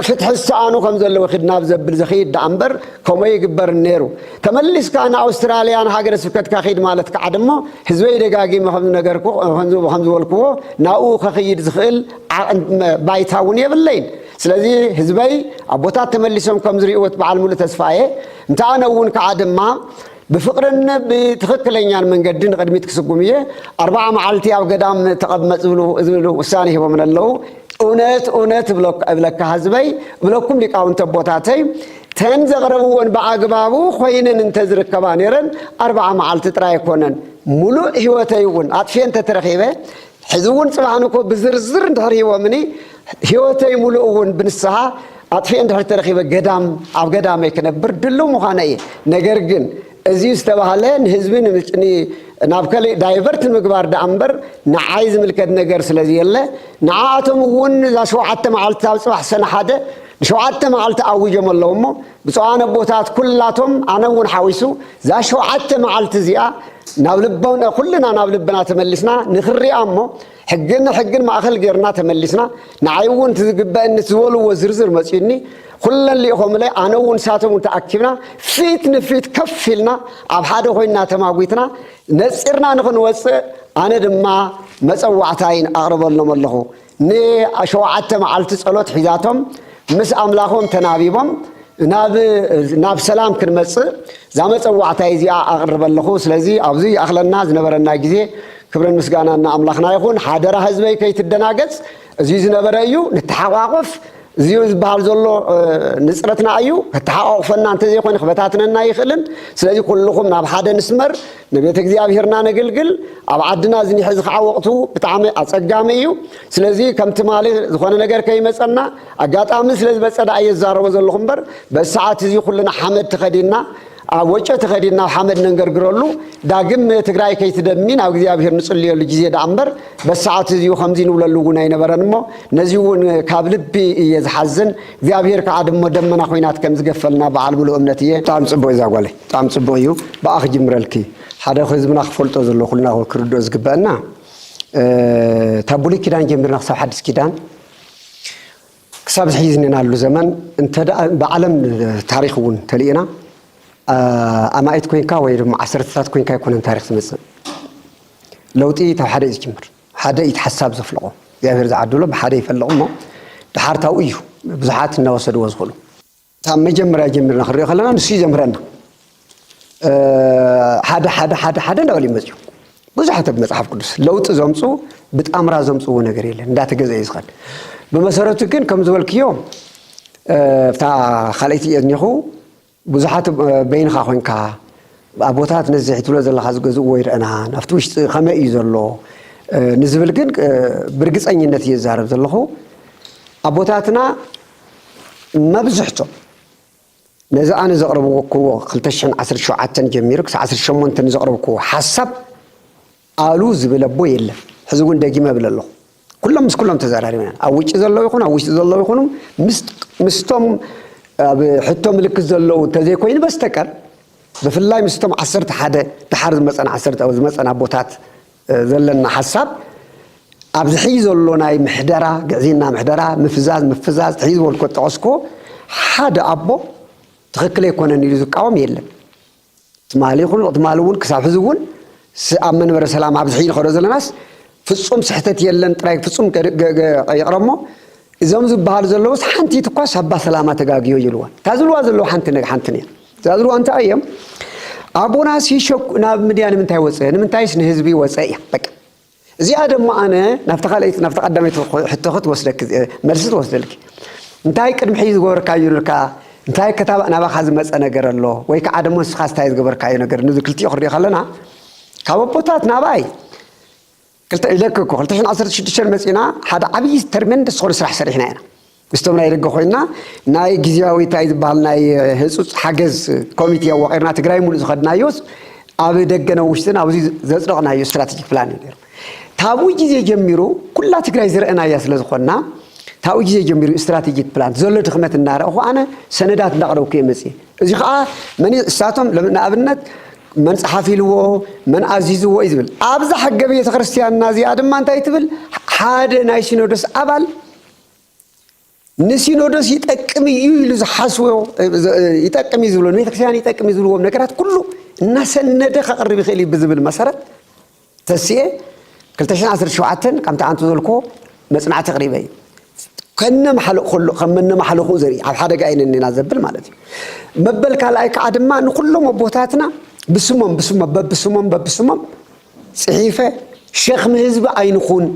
ፍትሒ ዝሰኣኑ ከም ዘለዉ ኺድ ናብ ዘብል ዘኽይድ ደኣ እምበር ከምኡ ኣይግበርን ነይሩ። ተመሊስካ ንኣውስትራልያ ንሃገረ ስብከትካ ኺድ ማለት ከዓ ደሞ ህዝበይ ደጋጊመ ከም ዝነገርኩ ከም ዝበልክዎ ናብኡ ከኽይድ ዝኽእል ባይታ እውን የብለይን። ስለዚ ህዝበይ ኣቦታት ተመሊሶም ከም ዝሪእዎት በዓል ሙሉ ተስፋ እየ እንተ ኣነ እውን ከዓ ድማ ብፍቅርን ብትኽክለኛን መንገዲ ንቅድሚት ክስጉም እየ ኣርባዓ መዓልቲ ኣብ ገዳም ተቐመጥ ዝብሉ ውሳኔ ሂቦምን ኣለዉ እውነት እውነት እብለካ ህዝበይ እብለኩም ሊቃውንቲ ኣቦታተይ ተን ዘቕረብዎን ብኣግባቡ ኮይነን እንተዝርከባ ነይረን ኣርባዓ መዓልቲ ጥራይ ኣይኮነን ሙሉእ ህይወተይ እውን ኣጥፍየ እንተተረኺበ ሕዚ እውን ጽባሕን እኮ ብዝርዝር እንድሕር ሂቦምኒ ህይወተይ ሙሉእ እውን ብንስሓ ኣጥፊኤ እንድሕር ተረኺበ ገዳም ኣብ ገዳመይ ክነብር ድልው ምዃነ እየ ነገር ግን እዚ ዝተባህለ ንህዝቢ ናብ ከሊእ ዳይቨርት ንምግባር ደኣ እምበር ንዓይ ዝምልከት ነገር ስለ ዘየለ ንዓኣቶም እውን እዛ ሸውዓተ መዓልቲ ኣብ ጽባሕ ሰነ ሓደ ንሸውዓተ መዓልቲ ኣዊጆም ኣለዉ እሞ ብፁዓን ኣቦታት ኩላቶም ኣነ እውን ሓዊሱ እዛ ሸውዓተ መዓልቲ እዚኣ ናብ ልቦና ኩልና ናብ ልብና ተመሊስና ንክንሪኣ እሞ ሕግን ንሕግን ማእኸል ጌርና ተመሊስና ንዓይ እውን እቲ ዝግበአኒ እቲ ዝበልዎ ዝርዝር መፅዩኒ ኩለን ልኢኾምለይ ኣነ እውን ንሳቶም እውን ተኣኪብና ፊት ንፊት ከፍ ኢልና ኣብ ሓደ ኮይንና ተማጒትና ነፂርና ንክንወፅእ ኣነ ድማ መፀዋዕታይን ኣቕርበሎም ኣለኹ ንሸውዓተ መዓልቲ ጸሎት ሒዛቶም ምስ ኣምላኾም ተናቢቦም ናብ ናብ ሰላም ክንመጽእ እዛ መጸዋዕታይ እዚኣ ኣቕርበ ኣለኹ። ስለዚ ኣብዚ ይኣኽለና ዝነበረና ግዜ ክብርን ምስጋናን ንኣምላኽና ይኹን። ሓደራ ህዝበይ ከይትደናገጽ እዚ ዝነበረ እዩ ንተሓቋቆፍ እዚ ዝበሃል ዘሎ ንጽረትና ኣዩ ከተሓቋቑፈና እንተ ዘይኮነ ክበታትነና ኣይኽእልን። ስለዚ ኩልኹም ናብ ሓደ ንስመር፣ ንቤተ እግዚኣብሔርና ነግልግል። ኣብ ዓድና እዚ ሕዚ ከዓ ወቕቱ ብጣዕሚ ኣጸጋሚ እዩ። ስለዚ ከም ትማሊ ዝኾነ ነገር ከይመጸና ኣጋጣሚ ስለ ዝበጸ ደኣ እየ ዝዛረቦ ዘለኹ እምበር በዚ ሰዓት እዚ ኩልና ሓመድ ተኸዲንና ኣብ ወጮ ተኸዲን ናብ ሓመድ ነንገርግረሉ ዳግም ትግራይ ከይትደሚ ናብ እግዚኣብሔር ንጽልየሉ ግዜ ደኣ እምበር በሰዓት እዚኡ ከምዚ ንብለሉ እውን ኣይነበረን እሞ ነዚ እውን ካብ ልቢ እየ ዝሓዝን እግዚኣብሔር ከዓ ድሞ ደመና ኮይናት ከም ዝገፈልና በዓል ምሉእ እምነት እየ ብጣዕሚ ጽቡቅ እዛ ጓለይ ብጣዕሚ ጽቡቅ እዩ ብኣ ክጅምረልኪ ሓደ ህዝብና ክፈልጦ ዘሎ ኩልና ክርድኦ ዝግበአና ካብ ብሉይ ኪዳን ጀሚርና ክሳብ ሓድስ ኪዳን ክሳብ ሕዚ ዝኔናሉ ዘመን እንተ ብዓለም ታሪኽ እውን ተሊእና ኣማኢት ኮይንካ ወይ ድማ ዓሰርተታት ኮይንካ ኣይኮነን ታሪኽ ዝመጽእ። ለውጢ ካብ ሓደ እዩ ዝጅምር። ሓደ እዩ ሓሳብ ዘፍልቆ። እግዚኣብሔር ዝዓድሎ ብሓደ ይፈልቕ እሞ ድሓር ታብኡ እዩ ብዙሓት እናወሰድዎ ዝኽእሉ። ካብ መጀመርያ ጀሚርና ክንሪኦ ከለና ንሱ እዩ ዘምህረና ሓደ ሓደ ሓደ ሓደ እንዳበሉ ይመፅኡ ብዙሓት ኣብ መፅሓፍ ቅዱስ ለውጢ ዘምፁ ብጣምራ ዘምፅዎ ነገር የለን እንዳተገዘ እዩ ዝኸን ብመሰረቱ ግን ከም ዝበልክዮ እታ ካልኣይቲ እየ ዝኒኹ ብዙሓት በይንኻ ኮንካ ኣቦታት ነዚ ትብሎ ዘለኻ ዝገዝእዎ ይረአና ናብቲ ውሽጢ ከመይ እዩ ዘሎ ንዝብል ግን ብርግፀኝነት እየ ዝዛረብ ዘለኹ ኣቦታትና መብዝሕቶም ነዚ ኣነ ዘቕረብኩዎ ክልተ ሽሕን ዓሰርተ ሸውዓተን ጀሚሩ ክሳዕ ዓሰርተ ሸሞንተ ንዘቕረብኩዎ ሓሳብ ኣሉ ዝብል ኣቦ የለን። ሕዚ እውን ደጊመ እብል ኣለኹ። ኩሎም ምስ ኩሎም ተዘራሪብና ኣብ ውጭ ዘለዉ ይኹኑ ኣብ ውሽጢ ዘለዉ ይኹኑ ምስቶም ኣብ ሕቶ ምልክት ዘለዉ እንተዘይኮይኑ በስተቀር ብፍላይ ምስቶም ዓሰርተ ሓደ ድሓር ዝመፀን ዓሰርተ ዝመፀን ኣቦታት ዘለና ሓሳብ ኣብዚ ሕይ ዘሎ ናይ ምሕደራ ግዕዝይና ምሕደራ ምፍዛዝ ምፍዛዝ ሕይ ዝበልኮ ጠቐስክዎ ሓደ ኣቦ ትኽክል ኣይኮነን ኢሉ ዝቃወም የለን ትማሊ ይኹን ትማሊ እውን ክሳብ ሕዚ እውን ኣብ መንበረ ሰላም ኣብዚ ሕይ ንኸዶ ዘለናስ ፍፁም ስሕተት የለን ጥራይ ፍፁም ይቕረ እሞ እዞም ዝበሃሉ ዘለውስ ሓንቲት እኳስ ኣባ ሰላማ ተጋግዮ ይብልዋ እታ ዝብልዋ ዘለዉ ሓንቲ ሓንትን እያ ዝኣዝርዎ እንታይ እዮም? ኣቦና ሲሾክ ናብ ምድያ ንምንታይ ወፀ? ንምንታይስ ንህዝቢ ወፀ እያ። በቃ እዚኣ ደሞ ኣነ ናብቲ ካልኣይቲ ናብቲ ቀዳመይቲ ሕቶኺ ትወስደኪ መልሲ ትወስደልኪ። እንታይ ቅድሚ ሕጂ ዝገበርካዩ ነርካ? እንታይ ከታብ ናባኻ ዝመፀ ነገር ኣሎ? ወይ ከዓ ደሞ ንስኻስ እንታይ ዝገበርካዩ ነገር? ነዚ ክልቲኡ ክንሪኦ ከለና ካብ ኣቦታት ናብኣይ ክልተ ኢለኪ እኮ ክልተ ሽሕን ዓሰርተ ሽዱሽተን መጺእና ሓደ ዓብዪ ተርመንደስ ዝኾነ ስራሕ ሰሪሕና ኢና ምስቶም ናይ ደገ ኮይና ናይ ግዜያዊ እንታይ ዝበሃል ናይ ህፁፅ ሓገዝ ኮሚቴ ኣዋቒርና ትግራይ ሙሉእ ዝኸድናዮስ ኣብ ደገን ኣብ ውሽጥን ኣብዚ ዘፅደቕናዮ ስትራቴጂክ ፕላን እዩ ነይሩ ታብኡ ግዜ ጀሚሩ ኩላ ትግራይ ዝረአናያ ስለ ዝኾንና ታብኡ ግዜ ጀሚሩ ስትራቴጂክ ፕላን ዘሎ ድኽመት እናረእኹ ኣነ ሰነዳት እንዳቕረብኩ እየ መፅእ እዚ ከዓ መን እሳቶም ንኣብነት መን ጸሓፊልዎ መን ኣዚዝዎ እዩ ዝብል። ኣብዛ ሕገ ቤተ ክርስቲያንና እዚኣ ድማ እንታይ ትብል? ሓደ ናይ ሲኖዶስ ኣባል ንሲኖዶስ ይጠቅም እዩ ኢሉ ዝሓስቦ ይጠቅም እዩ ዝብሎ ንቤተክርስትያን ይጠቅም እዩ ዝብልዎም ነገራት ኩሉ እናሰነደ ከቕርብ ይኽእል እዩ ብዝብል መሰረት ተስኤ ክልተ ሽሕን ዓሰርተ ሸውዓተን ከምቲ ኣንቱ ዘልክዎ መጽናዕቲ ኣቕሪበ እዩ። ከነማሕልእ ከሎ ከም መነማሕልኹ ዘርኢ ኣብ ሓደጋ ኢና እኒና ዘብል ማለት እዩ። መበል ካልኣይ ከዓ ድማ ንኩሎም ኣቦታትና ብስሞም ብስሞም በብስሞም በብስሞም ጽሒፈ ሸክሚ ህዝቢ ኣይንኹን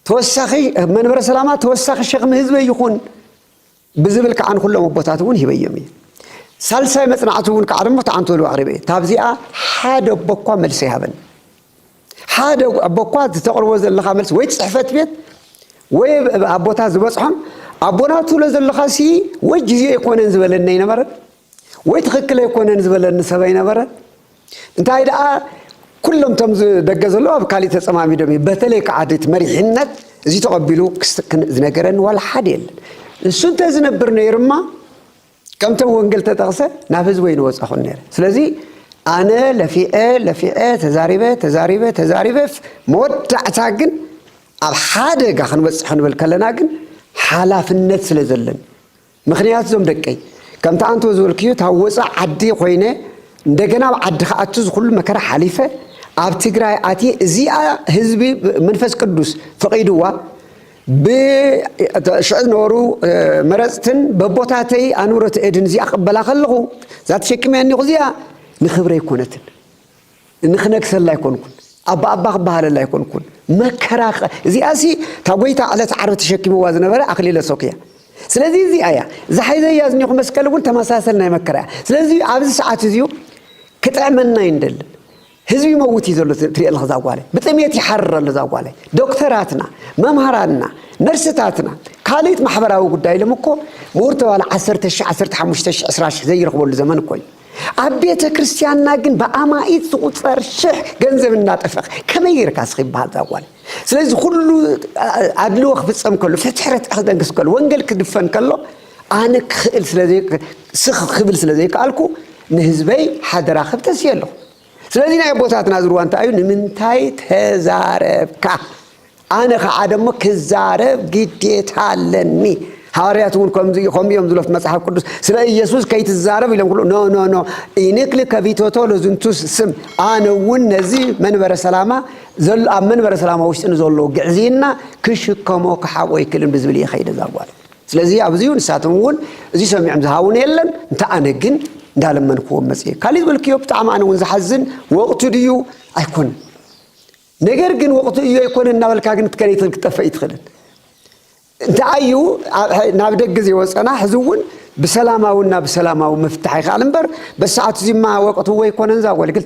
ተወሳኺ መንበረ ሰላማ ተወሳኺ ሸክሚ ህዝቢ ይኹን ብዝብል ከዓ ንኹሎም ኣቦታት እውን ሂበዮም እየ። ሳልሳይ መፅናዕቲ እውን ከዓ ደሞ ተዓንቶሉ ኣቕሪበ እየ። ካብዚኣ ሓደ ኣቦ እኳ መልሲ ኣይሃበንን። ሓደ ኣቦ እኳ እቲ ተቕርቦ ዘለኻ መልሲ ወይ ፅሕፈት ቤት ወይ ኣቦታት ዝበፅሖም ኣቦና ትብሎ ዘለኻ ሲ ወይ ጊዜ ኣይኮነን ዝበለኒ ኣይነበረን ወይ ትኽክል ኣይኮነን ዝበለኒ ሰብ ኣይነበረን እንታይ ደኣ ኩሎም እቶም ደገ ዘለዉ ኣብ ካሊእ ተጸማሚዶም እዮም በተለይ ከዓ እቲ መሪሕነት እዚ ተቐቢሉ ክስክን ዝነገረኒ ዋላ ሓደ የለን ንሱ እንተ ዝነብር ነይርማ ከምቶም ወንጌል ተጠቕሰ ናብ ህዝቢ ወይ ንወፃኹን ነይረ ስለዚ ኣነ ለፊዐ ለፊዐ ተዛሪበ ተዛሪበ ተዛሪበ መወዳእታ ግን ኣብ ሓደጋ ክንበፅሕ ንብል ከለና ግን ሓላፍነት ስለ ዘለን ምኽንያቱ እዞም ደቀይ ከምቲ ኣንቶ ዝበልክዮ እታ ወፃእ ዓዲ ኮይነ እንደገና ኣብ ዓዲ ክኣቱ ዝኩሉ መከራ ሓሊፈ ኣብ ትግራይ ኣትየ እዚኣ ህዝቢ መንፈስ ቅዱስ ፈቒድዋ ብሽዑ ዝነበሩ መረፅትን በቦታተይ ኣንብሮት እድን እዚኣ ክበላ ከለኹ እዛ ተሸክመያ እኒኹ እዚኣ ንክብረይ ኮነትን ንክነግሰላ ኣይኮንኩን ኣባኣባ ክበሃለላ ኣይኮንኩን መከራ እዚኣ ሲ እታ ጎይታ ዕለት ዓርቢ ተሸኪምዋ ዝነበረ ኣክሊለ ሶክ እያ ስለዚ እዚኣ እያ ዝሓይዘያ ዝኒኹ መስቀል እውን ተመሳሰል ናይ መከራ እያ ስለዚ ኣብዚ ሰዓት እዚዩ ክጥዕመና እዩ ንደልን ህዝቢ ይመውት እዩ ዘሎ ትሪኦ ኣለካ ዛጓላይ ብጥሜት ይሓርር ኣሎ ዛጓላይ ዶክተራትና መምሃራንና ነርስታትና ካልእት ማሕበራዊ ጉዳይ ኢሎም እኮ ምሁር ተባለ 1 ዓሰርተ ሽሕ ዓሰርተ ሓሙሽተ ሽሕ ዕስራ ሽሕ ዘይረኽበሉ ዘመን እኮ እዩ ኣብ ቤተ ክርስቲያንና ግን ብኣማኢት ዝቑፀር ሽሕ ገንዘብ እናጠፈኽ ከመይ ጌርካ ስኺ ይበሃል ዛጓል ስለዚ ኩሉ ኣድልዎ ክፍፀም ከሎ ፍትሒ ርትዒ ክደንግስ ከሎ ወንጌል ክድፈን ከሎ ኣነ ክኽእል ስኽ ክብል ስለ ዘይከኣልኩ ንህዝበይ ሓደራ ክብ ተስየ ኣለኹ ስለዚ ናይ ኣቦታትና ዝርዋ እንታይ እዩ ንምንታይ ተዛረብካ ኣነ ኸዓ ደሞ ክዛረብ ግዴታ ኣለኒ። ሃዋርያት እውን ከምዚ ከምኡ እዮም ዝብሉ ኣብቲ መጽሓፍ ቅዱስ ስለ ኢየሱስ ከይትዛረብ ኢሎም ክብሉ ኖ ኖ ኖ ኢንክል ከቢቶቶ ለዝንቱ ስም ኣነ እውን ነዚ መንበረ ሰላማ ዘሎ ኣብ መንበረ ሰላማ ውሽጢ ንዘሎ ግዕዝይና ክሽከሞ ክሓቆ ይክልን ብዝብል እየ ከይደ ዛጓል ስለዚ ኣብዚ ንሳቶም እውን እዚ ሰሚዖም ዝሃቡን የለን እንተ ኣነ ግን እንዳለመንክዎም መፅእ ካሊእ ዝበልክዮ ብጣዕሚ ኣነ እውን ዝሓዝን ወቕቱ ድዩ ኣይኮነን ነገር ግን ወቅቱ እዩ ኣይኮነን እናበልካ ግን ክትከደይ ትኽእል ክትጠፍእ ኣይትኽእልን እንተዓዩ ናብ ደገ ዘይወፀና ሕዚ እውን ብሰላማዊ እና ብሰላማዊ ምፍታሕ ይከኣል እምበር በሰዓቱ እዚማ ወቅቱ ወይ ኣይኮነን እዛ ወልግል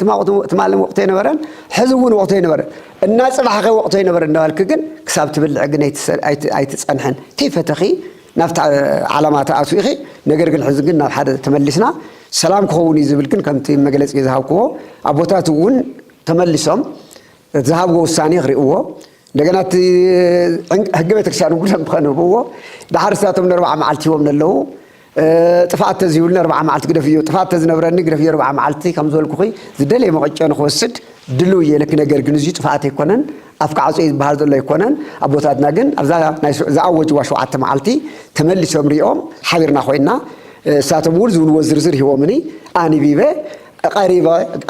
ትማልን ወቅቱ ኣይነበረን ሕዚ እውን ወቅቱ ኣይነበረን እና ፅባሕኸ ወቅቱ ኣይነበረን እናበልክ ግን ክሳብ ትብልዕ ግን ኣይትፀንሐን ከይፈተኺ ናብቲ ዓላማ ተኣትኡ ኢኺ ነገር ግን ሕዚ ግን ናብ ሓደ ተመሊስና ሰላም ክኸውን እዩ ዝብል ግን ከምቲ መግለፂ ዝሃብክዎ ኣቦታት እውን ተመሊሶም እቲ ዝሃብዎ ውሳኔ ክሪእዎ እንደገና እቲ ሕጊ ቤተክርስቲያን ኩሎም ከንብብዎ ደሓር እሳቶም ንኣርብዓ መዓልቲ ሂቦም ነለዉ ጥፍኣት ተዝህብሉኒ ኣርብዓ መዓልቲ ግደፍዮ ጥፍኣት ተዝነብረኒ ግደፍዮ ኣርብዓ መዓልቲ ከም ዝበልኩኺ ዝደለየ መቐጮ ንክወስድ ድልው እየ ለኪ ነገር ግን እዙ ጥፍኣት ኣይኮነን ኣፍካ ዓፅዮ ዝበሃል ዘሎ ኣይኮነን ኣቦታትና ግን ኣብዛ ናይ ዝኣወጅዋ ሸውዓተ መዓልቲ ተመሊሶም ሪኦም ሓቢርና ኮይና እሳቶም እውን ዝብልዎ ዝርዝር ሂቦምኒ ኣንቢበ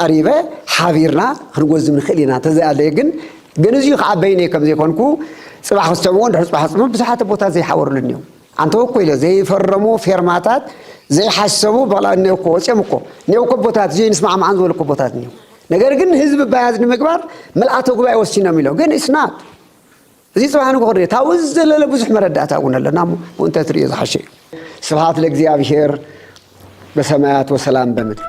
ቀሪበ ሓቢርና ክንጎዝም ንኽእል ኢና እንተዘይኣለየ ግን ግን እዚዩ ከዓ በይነይ ከም ዘይኮንኩ ፅባሕ ክስዕብዎ ድሕሪ ፅባሕ ክስዕብዎ ብዙሓት ቦታት ዘይሓበሩልን እዮም ኣንተ እኮ ኢለ ዘይፈረሙ ፌርማታት ዘይሓሰቡ በላ እኔው እኮ ወፅኦም እኮ እኔው እኮ ቦታት እዚኦ ንስማዕማዓን ዝበሉ እኮ ቦታት እኒው ነገር ግን ህዝቢ ባያዝ ንምግባር ምልኣተ ጉባኤ ወሲኖም ኢሎም ግን እስናት እዚ ጽባሕ ንግሆ ክርዮ ካብኡ ዝዘለለ ብዙሕ መረዳእታ እውን ኣለና እሞ ብኡ እንተትርእዮ ዝሓሸ እዩ ስብሓት ለእግዚኣብሄር በሰማያት ወሰላም በምድር